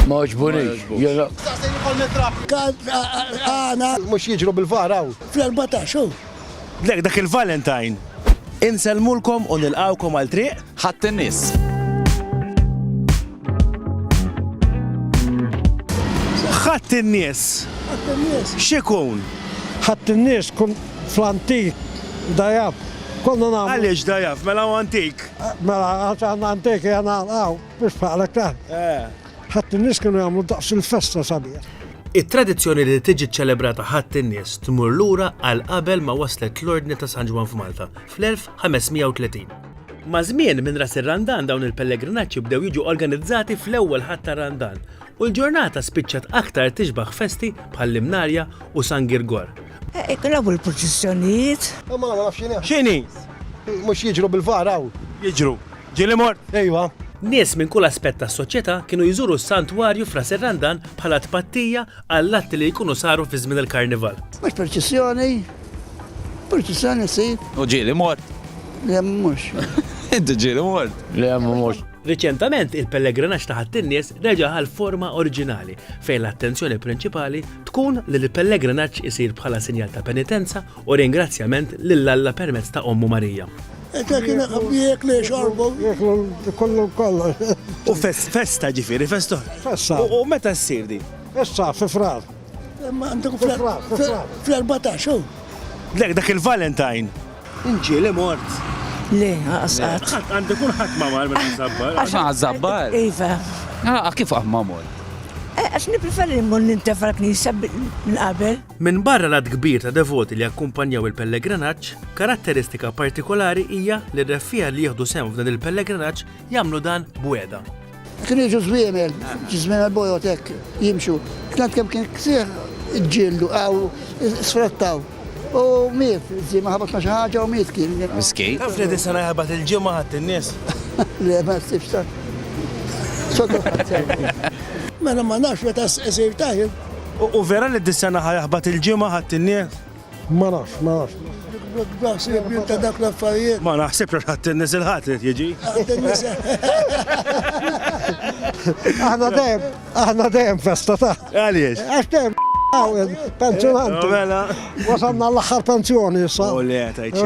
Ma oġbunix, jena. Għana. Mux jġru bil-varaw. Fl-14, Lek dak il-Valentine. Inselmulkom u nilqawkom għal triq. Ħadd in-nies. Ħadd in-nies. X'ikun? Ħadd in-nies kun fl-antik dajab. Konna nagħmlu. Għaliex dajab, mela antik. Mela għax antik jena għaw. Biex faqlek taħt. Ħadd in-nies kienu jagħmlu daqs il-festa sabiħ. It-tradizzjoni li tiġi ċċelebrata Ħadd in-Nies tmur lura għal qabel ma waslet l-Ordni ta' San Ġwann f'Malta, fl-1530. Maż-żmien, minn Ras ir-Randan dawn il-pellegrinaġġi bdew jiġu organizzati fl-ewwel Ħadd tar-Randan, u l-ġurnata spiċċat aktar tixbaħ festi bħal l-Imnarja u San Girgor. Iqrabu l-proċissjonijiet. Imma ma nafx x'inhi. X'inhi? Mhux jiġru bil-faqar hawn? Jiġru. Ġieli mort? Ejwa. Nies minn kull aspett tas-soċjetà kienu jżuru s-Santwarju f'Ras ir-Randan bħala tpattija għall-atti li jkunu saru fi żmien il-Karnival. Mhux proċissjoni. Proċissjoni ssir. U ġieli mort? Le mhux. Inti ġieli mort? Le mhux. Riċentament il-pellegrinaġġ ta' Ħadd in-Nies reġa' ħa l-forma oriġinali fejn l-attenzjoni prinċipali tkun li l-pellegrinaġġ isir bħala sinjal ta' penitenza u ringrazzjament lil Alla permezz ta' Ommu Marija. U festa ġifiri, festa. Festa. U meta s-sir di? Issa, fi frar. Fl-14, Lek, dak il-Valentine. Inġieli mort. Le, għas qatt. Qatt għandu kun ħadd ma mar meta żabbar. Għax ma żabbar. Iva. Ah, kif qatt ma mort? Eh, għax nipreferi mmur nintefa l-knisja minn qabel. Minn barra l-għadd kbir ta' devoti li jakkumpanjaw il-pellegrinaġġ, karatteristika partikolari hija li r-reffiegħa li jieħdu sehem f'dan il-pellegrinaġġ jagħmlu dan b'wegħda. Kienu jiġu żwiemel, żwiemel bojot hekk jimxu. Tant kemm kien ksieħ ġildu għaw sfrattaw. U miet, żiema ħabatna xi ħaġa u miet kien. Miskej. Taf li disa naħabat il-ġimgħa ħadd in-nies. Le ma ssibx ta' sodda Mela ma nafx meta isir taħil. U vera li disa naħa jaħbat il-ġimgħa ħadd in-nies? Ma nafx, ma nafx. Naħseb jien ta' dak l-affarijiet. Ma naħsibx għax ħadd inniżel ħadd li jiġi. Aħna dejjem, aħna dejjem festa ta'. Għaliex? Għax dejjem għawel, pensjonanti. Mela. Wasanna l-aħħar pensjoni issa. U le, tajċi.